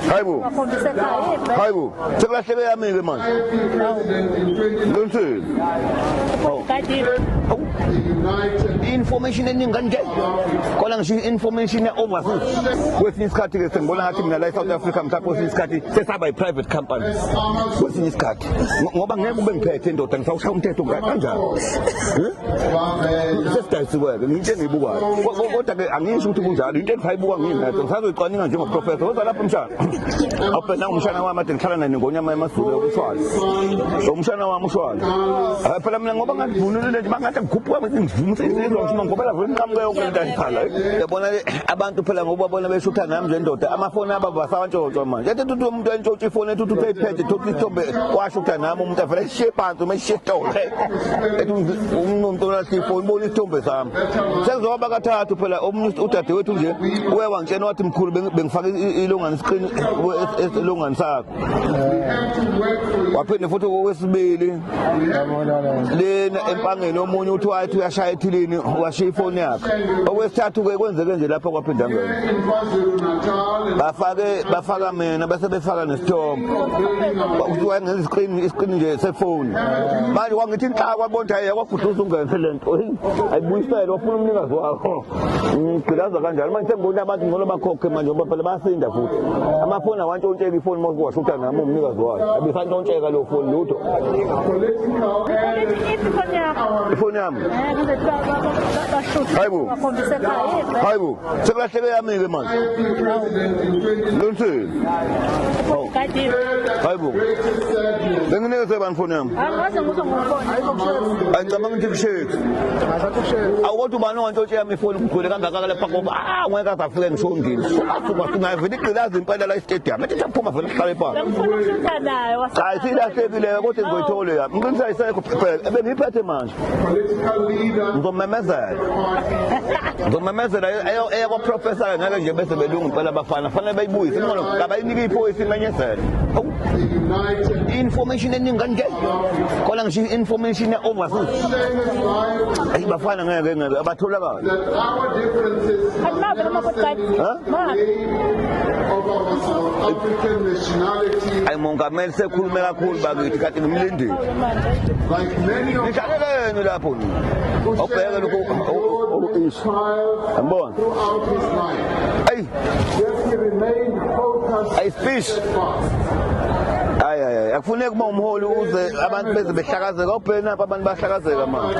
Hayibo. Hayibo. Sekulahleke yami ke manje. Lonsini. information eningi kanje kona ngisho information overseas kwesinye isikhathi ke sengibona ngathi mina la eSouth Africa mhlawumbe kwesinye isikhathi sesaba i-private company kwesinye isikhathi ngoba ngeke ube ngiphethe indoda ngisawushaya umthetho kanjalo sesidayisiweke ngiyinto engiyibukayo kodwa-ke angisho ukuthi kunjalo into engithi ayibuka ngiyinetho ngisazoyicwaninga njengoprofesa kodwa lapho umshana awubhena umshana wami ade ngihlala naye nengonyama emasule umshwana umshana wami ushwana phela mina ngoba ngandivunulile nje bangathi ngikhuphuka ngizivuma ngoba lavo inqamuke yonke into ayiphala yabona abantu phela ngoba bona beshutha nami nje ndoda amafoni aba basawantshotshwa manje ethi uthi umuntu entshotshwa ifoni ethi uthi uphephethe thothi isithombe washutha nami umuntu avele sishiye phansi uma sishiye tole ethi umnumntu unalhlifo uyibona isithombe sami sekuzoba bakathathu phela omunye udadewethu nje uye wangitshena wathi mkhulu bengifaka ilongane isiqini elongane sakho waphinde futhi owesibili lena empangeni omunye uthi wathi uyashaya ethilini washiya ifoni yakhe okwesithathu-ke kwenzeke nje lapho kwaphinde angena bafake bafaka mina bese befaka nesithombe kuthiwa ngenza isiqini isiqini nje sefoni manje kwangithi inhlakwa konta yekwa guduza ungenze lento ayibuyisele wafuna umnikazi wakho ngigqilaza kanjalo manje sengibona abantu ngcono bakhokhe manje ngoba phela bayasinda futhi amafoni awantshontsheka ifoni uma kuwashutha nami umnikazi wayo abisantshontsheka leyo foni lutho ifoni yami hayibo hayibo Sekulahleke yami ke manje. Lonsini. Kade. Hayibo. Benginike sebani foni yami. Angaze ngizwe ngomfoni. Hayibo kushethu. Angicabanga ukuthi kushethu. Ngazathi kushethu. Awukodwa ubani owantshontshe yami ifoni kugcwele kangaka kale phako. Ah ngeke azafike ngishondile. Suka singaye vele iqilaza impela la istadium. Ethi saphuma vele sihlale phansi. Ngifuna ukushutha nayo. Hayi silahlekile kodwa ngizoyithola yami. Ngiqinisile isekho phela. Ebengiphethe manje. ngizomemezela ngizomemezela eyakwaprofesa-ke ngeke nje bese belungu impela abafana fanele bayibuyise inqono kabayinike iphoyisa imenyezele i-information eningi kanje khona ngisho i-information ya-overseas ayi bafana ngeke ngeke abatholakala ayi mongameli sekhulume kakhulu bakithi kanti ngimlindile nidlalela yenu lapho obheke lokhu isho yambona ayi ayi fish hayi hayi akufuneki uma umholi uze abantu beze behlakazeka obheni apha abantu bahlakazeka manje